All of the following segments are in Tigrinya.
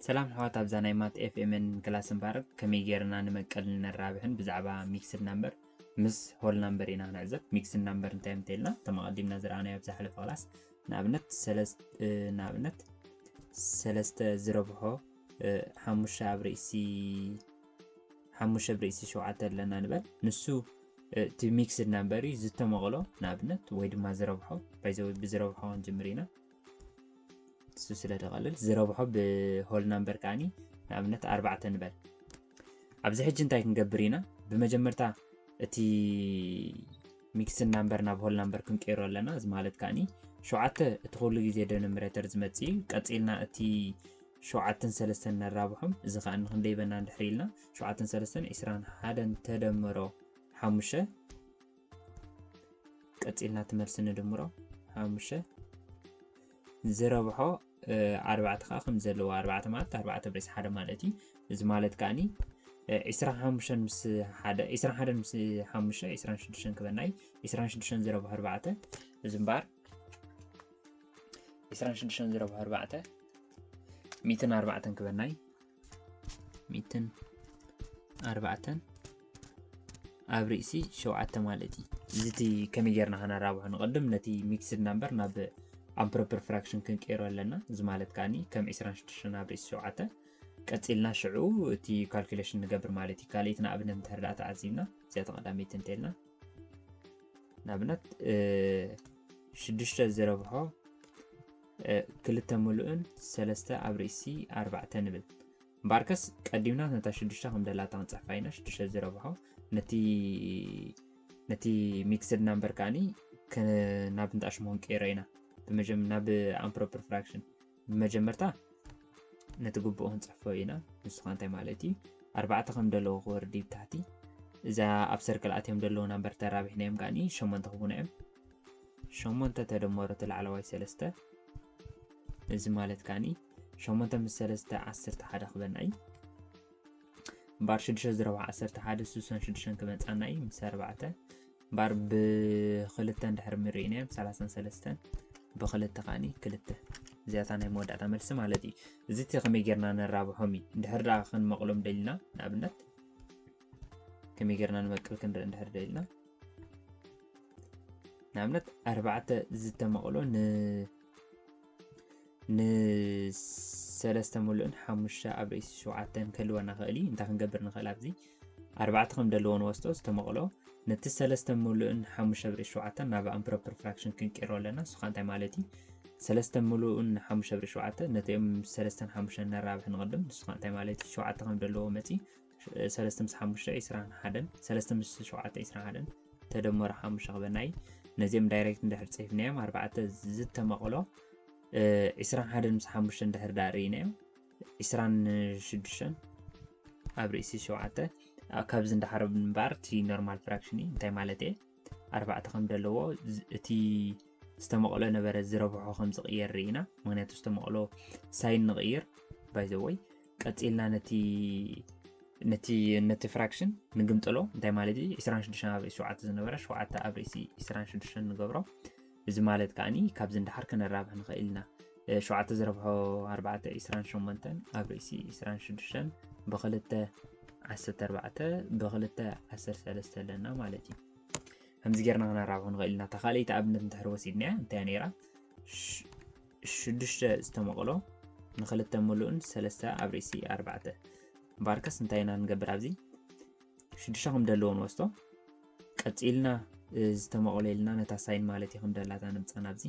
ሰላም ኣሕዋት ኣብዛ ናይ ማት ኤፍኤምን ክላስ ምባረክ ከመይ ጌርና ንመቀል ነራብሕን ብዛዕባ ሚክስድ ናምበር ምስ ሆል ናምበር ኢና ንዕዘብ ሚክስድ ናምበር እንታይ ምተልና ከም ኣቐዲምና ዝረኣናዮ ኣብ ዝሓለፈ ክላስ ንኣብነት ንኣብነት ሰለስተ ዝረብሖ ሓሙሽተ ኣብ ርእሲ ሓሙሽተ ብርእሲ ሸውዓተ ኣለና ንበል ንሱ እቲ ሚክስድ ናምበር እዩ ዝተመቕሎ ንኣብነት ወይ ድማ ዝረብሖ ባይዘወ ብዝረብሖ ክንጅምር ኢና እሱ ስለ ተቐልል ዝረብሖ ብሆል ናምበር ከዓኒ ንኣብነት ኣርባዕተ ንበል ኣብዚ ሕጂ እንታይ ክንገብር ኢና ብመጀመርታ እቲ ሚክስድ ናምበር ናብ ሆል ናምበር ክንቀይሮ ኣለና እዚ ማለት ከዓኒ ሸውዓተ እቲ ኩሉ ግዜ ደነምሬተር ዝመፅ እዩ ቀፂልና እቲ ሸውዓተን ሰለስተን ነራብሖም እዚ ከኣ ንክንደይ በና እንድሕር ኢልና ሸውዓተን ሰለስተን ዕስራን ሓደን ተደምሮ ሓሙሽተ ቀጺልና እቲ መልሲ ንድምሮ ሓሙሽተ ዝረብሖ ኣርባዕተ ከዓ ከም ዘለዎ ኣርባዕተ ማለት ኣርባዕተ ብዒስ ሓደ ማለት እዩ እዚ ማለት ከዓኒ ዒስራን ሓሙሽተን ምስ ሓደ ዒስራን ሓደን ምስ ሓሙሽተ ዒስራን ሽዱሽተን ክበና እዩ ዒስራን ሽዱሽተን ዝረብሖ ኣርባዕተ እዚ እምበኣር ዕስራን ሽዱሽተን ዝረብሑ ኣርባዕተ ሚትን ኣርባዕተን ክበናይ ሚትን ኣርባዕተን ኣብ ርእሲ ሸውዓተ ማለት እዩ እዚ እቲ ከመይ ጌርና ከነራብሖ ንቐድም ነቲ ሚክስድ ናምበር ናብ ኣምፕሮፐር ፍራክሽን ክንቀይሮ ኣለና እዚ ማለት ከዓኒ ከም 26 ኣብ ርእሲ ሸውዓተ ቀፂልና ሽዑ እቲ ካልኩሌሽን ንገብር ማለት እዩ ካልኣይቲ ንኣብነት እንተርዳኣ ተዓዚብና እዚኣ ተቐዳመይቲ እንተልና ንኣብነት ሽዱሽተ ዝረብሖ ክልተ ምሉእን ሰለስተ ኣብ ርእሲ ኣርባዕተ ንብል እምበኣርከስ ቀዲምና ነታ ሽዱሽተ ከም ደላታ ክንፅሕፋ ኢና ሽዱሽተ ዝረብሖ ነቲ ሚክስድ ናምበር ከዓኒ ናብ ንጣሽሞ ክንቀይሮ ኢና ናብ ኣምፕሮፐር ፍራክሽን ብመጀመርታ ነቲ ግቡእ ክንፅሕፎ ኢና ንሱ ከዓ እንታይ ማለት እዩ ኣርባዕተ ከም ደለዎ ክወርዲ ብታሕቲ እዛ ኣብ ሰርክል ኣትዮም ደለዎ ናምበር ተራቢሕናዮም ከዓኒ ሸሞንተ ክቡና እዮም ሸሞንተ ተደመሮ እቲ ላዕለዋይ ሰለስተ እዚ ማለት ከዓኒ ሸሞንተ ምስ ሰለስተ ዓሰርተ ሓደ ክበና እዩ እምበኣር ሽዱሽተ ዝረብዓ ዓሰርተ ሓደ ስሳን ሽዱሽተን ክመፃና እዩ ምስ ኣርባዕተ ባር ብክልተ እንድሕር ምርኢናዮም ሰላሳን ሰለስተን ብክልተ ከዓኒ ክልተ እዚኣታ ናይ መወዳእታ መልሲ ማለት እዩ እዚ እቲ ከመይ ጌርና ነራብሖም እዩ እንድሕር ደኣ ክንመቕሎም ደልና ንኣብነት ከመይ ጌርና ንመቅል ክንርኢ እንድሕር ደልና ንኣብነት ኣርባዕተ ዝተመቕሎ ን ንሰለስተ ምሉእን ሓሙሽተ ኣብ ርእሲ ሸውዓተን ክህልወና ኽእል እዩ እንታይ ክንገብር ንኽእል ኣብዚ ኣርባዕተ ከም ደለዎ ንወስዶ ዝተመቕሎ ነቲ ሰለስተ ምሉእን ሓሙሽተ ኣብ ርእሲ ሸውዓተን ናብ ኣምፕሮፐር ፍራክሽን ክንቀይሮ ኣለና ንሱ እንታይ ማለት እዩ ሰለስተ ምሉእን ሓሙሽተ ኣብ ርእሲ ሸውዓተ ነቲኦም ሰለስተን ሓሙሽተን ነራብሕ ንቕድም ንሱ እንታይ ማለት እዩ ሸውዓተ ከም ደለዎ መፂ ሰለስተ ምስ ሓሙሽተ ዒስራን ሓደን ሰለስተ ምስ ሸውዓተ ዒስራን ሓደን ተደመሩ ሓሙሽተ ክበናይ ነዚኦም ዳይሬክት እንድሕር ፅሒፍናዮም ኣርባዕተ ዝተመቕሎ ዒስራን ሓደን ምስ ሓሙሽተ እንድሕር ዳ ርኢናዮም ዒስራን ሽዱሽተን ኣብ ርእሲ ሸውዓተ ካብዚ እንዳሓረብ እምበኣር እቲ ኖርማል ፍራክሽን እዩ እንታይ ማለት እየ ኣርባዕተ ከም ዘለዎ እቲ ዝተመቕሎ ነበረ ዝረብሖ ከም ዝቕየር ርኢና ምክንያቱ ዝተመቕሎ ሳይን ንቕይር ባይዘወይ ቀፂልና ነቲ ነቲ ነቲ ፍራክሽን ንግምጥሎ እንታይ ማለት እዩ 26 ኣብ ሸ ዝነበረ ሸ ኣብ ርእሲ 26 ንገብሮ እዚ ማለት ከኣ ካብዚ ንደሓር ከነራብሕ ንኸእል ኢና። ሸውዓተ ዝረብሖ ኣርባዕተ ዒስራን ሸሞንተን ኣብ ርእሲ ዒስራን ሽዱሽተን ብክልተ ዓሰርተ ኣርባዕተ ብክልተ ዓሰርተ ሰለስተ ኣለና ማለት እዩ። ከምዚ ጌርና ክነራብሑ ንኽእል ኢና። እታ ካልኣይቲ ኣብነት እንድሕር ወሲድና እንታይ ነይራ? ሽዱሽተ ዝተመቕሎ ንክልተ ምሉእን ሰለስተ ኣብ ርእሲ ኣርባዕተ እምበኣርከስ እንታይ ኢና ንገብር ኣብዚ ሽዱሽተ ከም ደለዎ ንወስዶ ቀጺልና ዝተመቕለልና ነታ ሳይን ማለት እዩ ክንደላታ ንምፃን ኣብዚ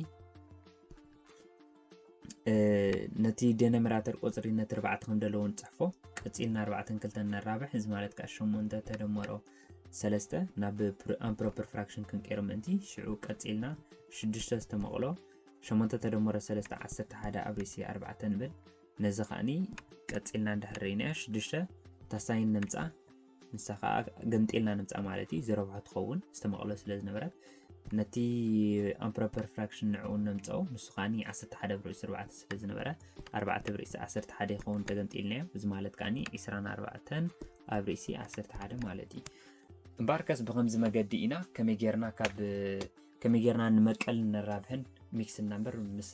ነቲ ዴነምራተር ቁፅሪ ነቲ ርባዕተ ክንደለዎ ንፅሕፎ ቀፂልና ኣርባዕተን ክልተን ነራብሕ እዚ ማለት ከዓ ሸሞንተ ተደመሮ ሰለስተ ናብ ኣምፕሮፐር ፍራክሽን ክንቀይሮ ምእንቲ ሽዑ ቀፂልና ሽዱሽተ ዝተመቕሎ ሸሞንተ ተደመሮ ሰለስተ ዓሰርተ ሓደ ኣብ ርእሲ ኣርባዕተ ንብል ነዚ ከዓኒ ቀፂልና እንዳሕረይናያ ሽዱሽተ ታሳይን ነምፃ ንሳ ከዓ ገምጢልና ንምፃእ ማለት እዩ ዝረብሖ ትኸውን ዝተመቐሎ ስለ ዝነበረት ነቲ ኣምፕሮፐር ፍራክሽን ንዕኡ ነምፀኦ ንሱ ከዓ ዓሰርተ ሓደ ብርዒ ስርባዕተ ስለ ዝነበረ ኣርባዕተ ብርዒ ዓሰርተ ሓደ ይኸውን ተገምጢልናዮ እዚ ማለት ከዓ ዕስራን ኣርባዕተን ኣብ ርእሲ ዓሰርተ ሓደ ማለት እዩ እምበኣርከስ ብከምዚ መገዲ ኢና ከመይ ጌርና ካብ ከመይ ጌርና ንመቀል ንራብሕን ሚክስ ናምበር ምስ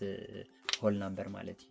ሆል ናምበር ማለት እዩ